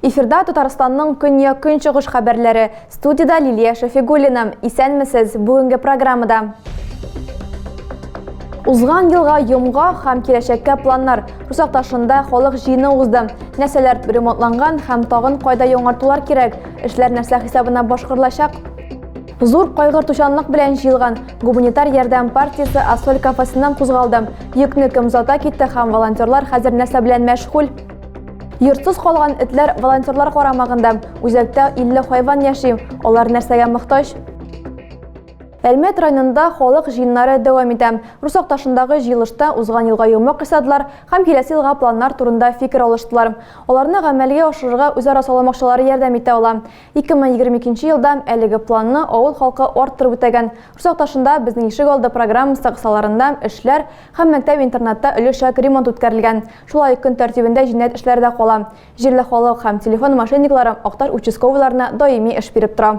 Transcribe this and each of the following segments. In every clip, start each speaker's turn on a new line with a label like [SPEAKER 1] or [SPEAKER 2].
[SPEAKER 1] Эфирда Татарстанның көньяк көнчыгыш хәбәрләре. Студида Лилия Шафигуллина. Исәнмесез. Бүгенге программада. Узган елга йомга һәм киләчәккә планнар. Усак ташында халык җыены узды. Нәрсәләр ремонтланган һәм тагын кайда яңартулар кирәк? Эшләр нәрсә хисабына башкарылачак? Зур кайгыртучанлык белән җыелган гуманитар ярдәм партиясе Ассоль кафесыннан кузгалды. Йөкне кем озата китте һәм волонтерлар хәзер нәрсә белән мәшгуль? Йортсыз калган этләр волонтерлар карамагында. Үзәктә 50 хайван яши. Алар нәрсәгә мохтаҗ? Әлмәт районында халык җыеннары дәвам итә. Русак ташындагы җыелышта узган елга йомык ясадылар һәм киләсе елга планнар турында фикер алыштылар. Аларны гамәлгә ашырырга үзара салым акчалары ярдәм итә ала. 2022 елда әлеге планны авыл халкы арттырып үтәгән. Русак ташында Безнең ишек алды программасы кысаларында эшләр һәм мәктәп-интернатта өлешчәк ремонт үткәрелгән. Шулай ук көн тәртибендә җинаять эшләре дә кала. Җирле халык һәм телефон мошенниклары Акташ участковыйларына даими эш биреп тора.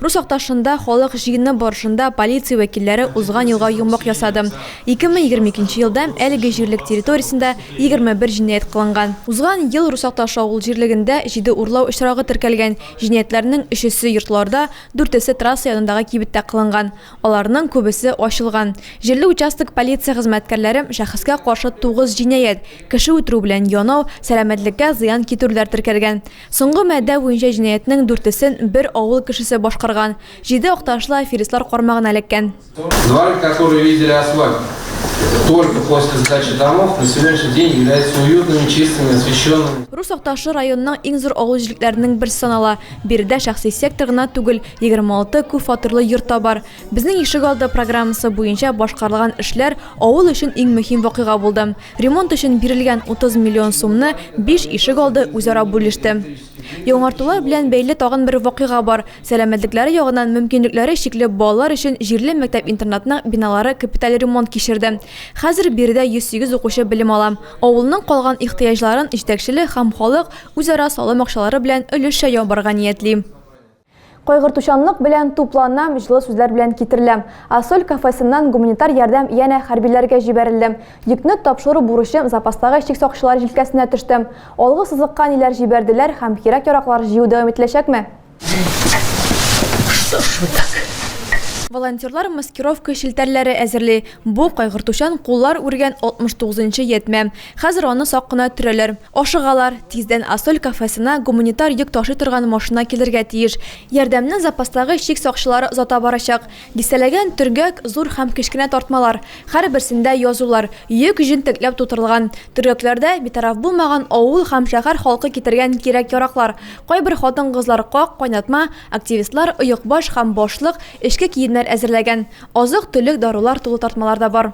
[SPEAKER 1] Рус якташында халык җыены барышында полиция вәкилләре узган елга йомгак ясады. 2022 елда әлеге җирлек территориясендә 21 җинаять кылынган. Узган ел Русякташ авыл җирлегендә җиде урлау очрагы теркәлгән, җинаятьләрнең өчесе, йортларда, дүртесе трасса янындагы кибеттә кылынган. Аларның күбесе ачылган. Җирле участок полиция хезмәткәрләре шәхескә каршы тугыз җинаять, кеше үтерү белән янау, сәламәтлеккә зыян китерүләр теркәлгән. Соңгы маддә буенча җинаятьнең дүртесен бер авыл кешесе башкарган, җиде актанышлы аферистлар кармагына эләккән. Тварь, которую
[SPEAKER 2] видели асфальт только после сдачи домов, на сегодняшний день являются уютными, чистыми, освещенными. Рус Акташы районының
[SPEAKER 1] иң зур авыл җирлекләренең берсе санала. Биредә шәхси сектор гына түгел, 26 күп фатирлы йорт та бар. Безнең ишегалды программасы буенча башкарылган эшләр авыл өчен иң мөһим вакыйга булды. Ремонт өчен бирелгән 30 миллион сумны биш ишегалды үзара бүлеште. Яңартулар белән бәйле тагын бер вакыйга бар. Сәламәтлекләре ягыннан мөмкинлекләре чикле балалар өчен җирле мәктәп-интернатның биналары капиталь ремонт кичерде. Хәзер биредә 108 укучы белем ала. Авылның калган ихтыяҗларын җитәкчелек һәм халык үзара салым акчалары белән өлешчә ябарга ниятли. Кайгыртучанлык белән тупланам, җылы сүзләр белән китереләм. Ассоль кафесыннан гуманитар ярдәм янә хәрбиләргә җибәрелде. Йөкне тапшыру бурычым запастагы чик сакчылары җилкәсенә төште. Алгы сызыкка ниләр җибәрделәр һәм кирәк-яраклар җыю дәвам ителәчәкме? Что ж вы так? Волонтерлар маскировка челтәрләре әзерли. Бу, кайгыртучан куллар үргән 69 нчы ятьмә. Хәзер аны сак кына төрәләр. Ашыгалар. Тиздән Ассоль кафесына гуманитар йөк ташый торган машина килергә тиеш. Ярдәмне запастагы чик сакчылары озата барачак. Дистәләгән төргәк, зур һәм кечкенә тартмалар. Һәрберсендә язулар, йөк җентекләп тутырылган. Төргәкләрдә, битараф булмаган авыл һәм шәһәр халкы китергән кирәк-яраклар. Кайбер хатын-кызлар как, кайнатма, активистлар оекбаш һәм башлык эчке киемнәр әзерләгән. Азык, төлек, дарулар тулы тартмалар да бар.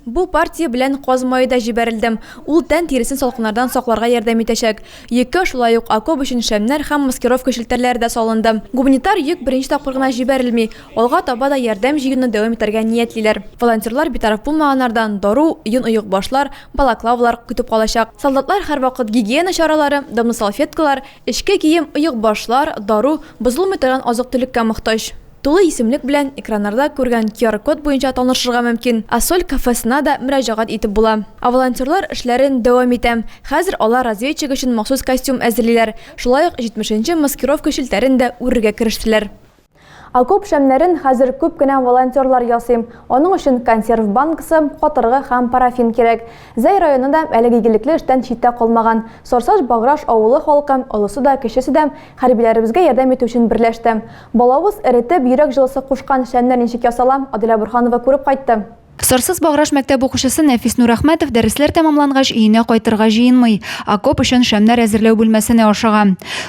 [SPEAKER 1] Бу партия белән каз мае да җибәрелде. Ул тән тиресен салкыннардан сакларга ярдәм итәчәк. Йөккә шулай ук окоп өчен шәмнәр һәм маскировка челтәрләре дә салынды. Гуманитар йөк беренче тапкыр гына җибәрелми, алга таба да ярдәм җыюны дәвам итәргә ниятлиләр. Волонтерлар битараф булмаганнардан дару, йон оекбашлар, балаклавалар көтеп калачак. Солдатлар һәрвакыт гигиена чаралары, дымлы салфеткалар, Эчке кием, оекбашлар, дару, бозылмый торган азык-төлеккә мохтаҗ. Тулы исемлек белән экраннарда күргән QR-код буенча танышырга мөмкин, Ассоль кафесына да мөрәҗәгать итеп була. Ә волонтерлар эшләрен дәвам итә. Хәзер алар разведчик өчен махсус костюм әзерлиләр, шулай ук җитмешенче маскировка челтәрен дә үрергә керештеләр. Окоп шәмнәрен хәзер күп кенә волонтерлар ясый. Аның өчен консерв банкасы, катыргы һәм парафин кирәк. Зәй районы да әлеге игелекле эштән читтә калмаган. Сорсаж Баграж авылы халкы, олысы да, кечесе дә, хәрбиләребезгә ярдәм итү өчен берләште. Балавыз эретеп, йөрәк җылысы кушкан шәмнәр ничек ясала, Аделя Борһанова күреп кайтты. Сарсыз Баграж
[SPEAKER 3] мәктәп укучысы Нәфис Нурәхмәтов дәресләр тәмамлангач өенә кайтырга җыенмый. Окоп өчен шәмнәр әзерләү бүлмәсенә ашыга.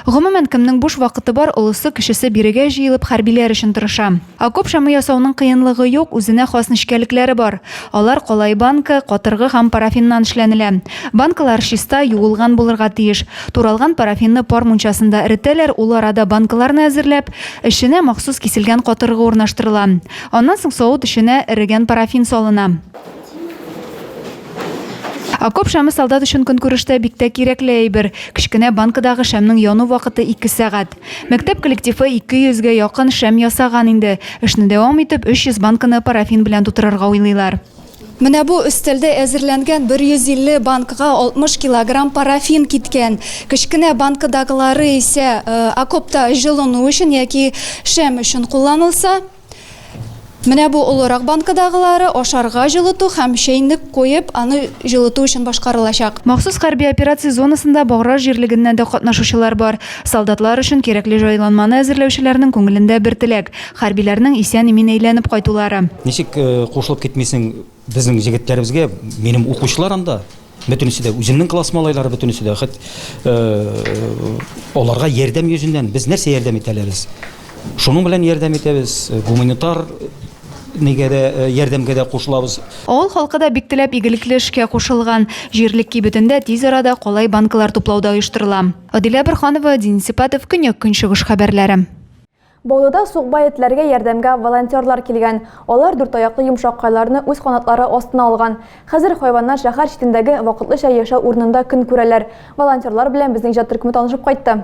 [SPEAKER 3] Гомумән, кемнең буш вакыты бар, олысы, кечесе бирегә җыелып хәрбиләр өчен тырыша. Окоп шәме ясауның кыенлыгы юк, үзенә хас нечкәлекләре бар. Алар калай банка, катыргы һәм парафиннан эшләнелә. Банкалар чиста, юылган булырга тиеш. Туралган парафинны пар мунчасында эретәләр, ул арада банкаларны әзерләп, эченә махсус киселгән катыргы урнаштырыла. Аннан соң савыт эченә эрегән парафин салына. Окоп шәме солдат өчен көнкүрештә бик тә кирәкле әйбер. Кечкенә банкадагы шәмнең яну вакыты ике сәгать. Мәктәп коллективы 200 гә якын шәм ясаган инде. Эшне дәвам итеп, 300 банканы парафин белән тутырырга уйлыйлар. Менә бу өстәлдә әзерләнгән 150 банкага 60 килограмм парафин киткән. Кечкенә банкадагылары исә окопта җылыну өчен яки шәм өчен кулланылса, менә бу олырак банкадагылары ашарга җылыту һәм чәйнек куеп, аны җылыту өчен башкарылачак. Махсус хәрби операция зонасында Баграж җирлегеннән дә катнашучылар бар. Солдатлар өчен кирәкле җайланманы әзерләүчеләрнең күңелендә бер теләк, Хәрбиләрнең исән-имин әйләнеп кайтулары. Ничек кушылып
[SPEAKER 4] китмисең безнең җегетләребезгә, минем укучылар анда, бөтенесе дә, үземнең класс малайлары бөтенесе дә, хет аларга ярдәм йөзеннән, без нәрсә ярдәм итәләбез, шуның белән ярдәм итәбез, гуманитар нигә дә, ярдәмгә дә кушылабыз. Авыл халкы да бик
[SPEAKER 3] теләп игелекле эшкә кушылган. Җирлек кибетендә тиз арада калай банкалар туплау да оештырыла. Адилә Борһанова, Дин Сипатов, Көньяк-Көнчыгыш хәбәрләре. Баулыда
[SPEAKER 1] сукбай этләргә ярдәмгә волонтерлар килгән. Алар дүртаяклы йомшакайларны үз канатлары астына алган. Хәзер хайваннар шәһәр читендәге вакытлыча яшәү урынында көн күрәләр. Волонтерлар белән безнең иҗат төркеме танышып кайтты.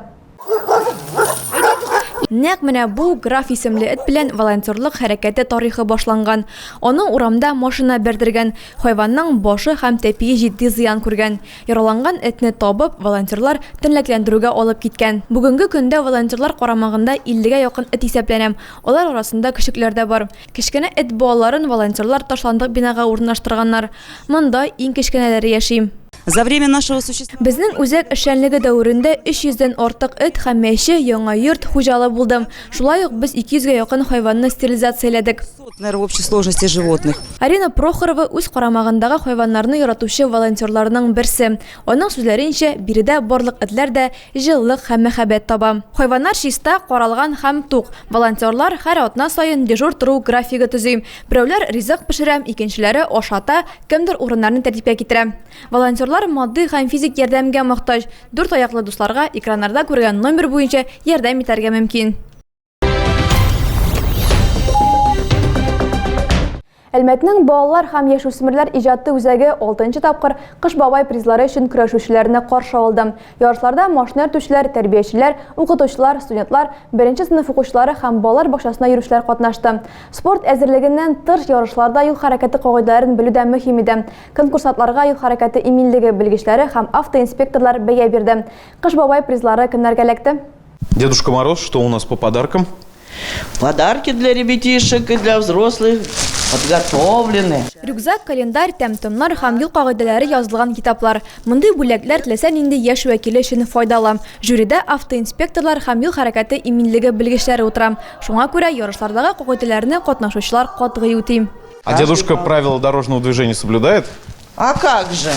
[SPEAKER 1] Нәкъ менә бу Граф исемле эт белән волонтерлык хәрәкәте тарихы башланган. Аның урамда машина бәрдергән, хайванның башы һәм тәпие җитди зыян күргән. Яраланган этне табып, волонтерлар тернәкләндерүгә алып киткән. Бүгенге көндә волонтерлар карамагында 50 гә якын эт исәпләнә, алар арасында көчекләр дә бар. Кечкенә эт балаларын волонтерлар ташландык бинага урнаштырганнар. Монда иң кечкенәләре яши. За время нашего
[SPEAKER 5] существования. Безнең үзәк эшчәнлеге
[SPEAKER 1] дәверендә 300 дән артык эт һәм мәче, яңа йорт, хуҗалы булды. Шулай ук без 200 гә якын хайванны стерилизацияләдек. Наверное, в общей
[SPEAKER 5] сложности животных. Арина Прохорова
[SPEAKER 1] үз карамагындагы хайваннарны яратучы волонтерларның берсе. Аның сүзләренчә, биредә барлык этләр дә җылылык һәм мәхәббәт таба. Хайваннар чиста, каралган һәм тук. Волонтерлар һәр атна саен дежур тору графигы төзи. Берәүләр ризык пешерә, икенчеләре ашата, кемдер урыннарны тәртипкә китерә. Волонтерлар матди һәм физик ярдәмгә мохтаҗ. Дүрт аяклы дусларга экраннарда күргән номер буенча ярдәм итәргә мөмкин. Әлмәтнең балалар һәм яшүсмерләр иҗаты үзәге 6 тапкыр Кыш бабай призлары өчен көрәшүчеләрне каршы алды. Ярышларда машина йөртүчеләр, тәрбиячеләр, укытучылар, студентлар, беренче сыйныф укучылары һәм балалар бакчасына йөрүчеләр катнашты. Спорт әзерлегеннән тыш ярышларда юл хәрәкәте кагыйдәләрен белү дә мөһим иде. Конкурсантларга юл хәрәкәте иминлеге белгечләре һәм автоинспекторлар бәя бирде. Кыш бабай призлары кемнәргә эләкте? Дедушка Мороз,
[SPEAKER 6] что у нас по подаркам? Подарки
[SPEAKER 7] для ребятишек и для взрослых подготовлены. Рюкзак,
[SPEAKER 1] календарь, тәм-томнар һәм юл кагыйдәләре язылган китаплар. Мондый бүләкләр теләсә нинди яшь вәкиле өчен файдалы. Жюрида автоинспекторлар һәм юл хәрәкәте иминлеге белгечләре утыра. Шуңа күрә ярышлардагы кагыйдәләрне катнашучылар катгый үти. А дедушка
[SPEAKER 6] правила дорожного движения соблюдает? А как
[SPEAKER 7] же!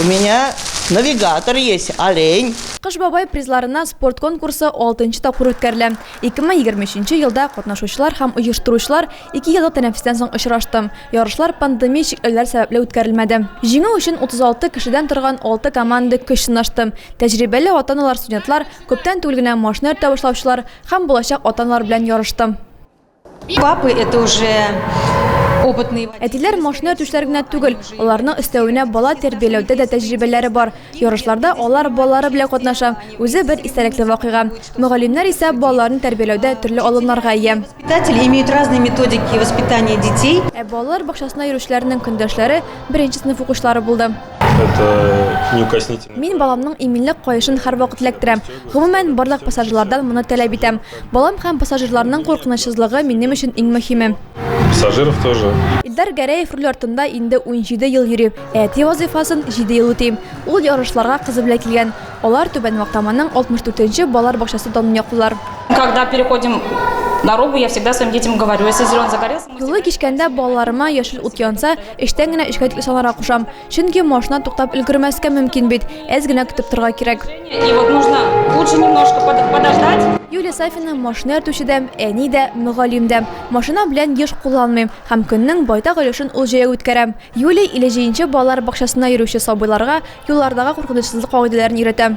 [SPEAKER 7] У меня навигатор есть, олень. Кыш бабай призларына
[SPEAKER 1] спорт конкурсы алтынчы тапкыр үткәрелә. 2023 елда катнашучылар һәм оештыручылар ике еллык тәнәфестән соң очрашты. Ярышлар пандемия чикләүләр сәбәпле үткәрелмәде. Җиңү өчен 36 кешедән торган 6 команда көч сынашты. Тәҗрибәле ата-аналар студентлар, күптән түгел генә машина йөртә башлаучылар һәм булачак ата-аналар белән ярышты. Папы
[SPEAKER 8] это уже опытный. Әтиләр машина
[SPEAKER 1] төшләр генә түгел, аларның өстәвенә бала тәрбияләүдә дә тәҗрибәләре бар. Ярышларда алар балалары белән катнаша. Үзе бер истәлекле вакыйга. Мөгаллимнәр исә балаларын тәрбияләүдә төрле алымнарга ия. Воспитатели имеют разные
[SPEAKER 8] методики воспитания детей. Ә балалар бакчасына
[SPEAKER 1] йөрүчеләрнең көндәшләре беренче сыйныф укучылары булды.
[SPEAKER 6] Мин баламның иминлек
[SPEAKER 1] каешын һәрвакыт эләктерәм. Гомумән, барлык пассажирлардан моны таләп итәм. Балам һәм пассажирларның куркынычсызлыгы минем өчен иң мөһиме. Пассажиров тоже.
[SPEAKER 6] Илдар Гәрәев руль
[SPEAKER 1] артында инде 17 ел йөри, ә әти вазыйфасын 7 ел үти. Ул ярышларга кызы белән килгән. Алар Түбән Вактаманың 64 нче балалар бакчасы данын яклыйлар. Когда переходим
[SPEAKER 9] дорогу, я всегда своим детям говорю, если зелен загорелся. Юлы кичкәндә
[SPEAKER 1] балаларыма яшел ут янса, өчтән генә өчкә тикле санарга кушам. Чөнки машина туктап өлгермәскә мөмкин бит, әз генә көтеп торырга кирәк.
[SPEAKER 9] Юлия Сафина,
[SPEAKER 1] машина йөртүче дә, әни дә, мөгаллим дә. Машина белән еш кулланмыйм һәм көннең байтак өлешен ул җәяү үткәрәм. Юлия 57 нче балалар бакчасына йөрүче сабыйларга юллардагы куркынычсызлык кагыйдәләрен өйрәтә.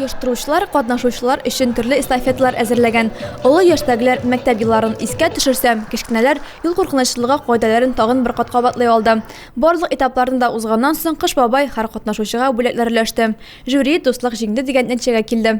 [SPEAKER 1] Оештыручылар катнашучылар өчен төрле эстафеталар әзерләгән. Олы яшьтәгеләр мәктәп елларын искә төшерсә, кечкенәләр юл куркынычлылыгы кагыйдәләрен тагын бер кат кабатлый алды. Барлык этапларны да узганнан соң Кыш бабай һәр катнашучыга бүләкләр өләште. Жюри Дуслык җиңде дигән нәтиҗәгә килде.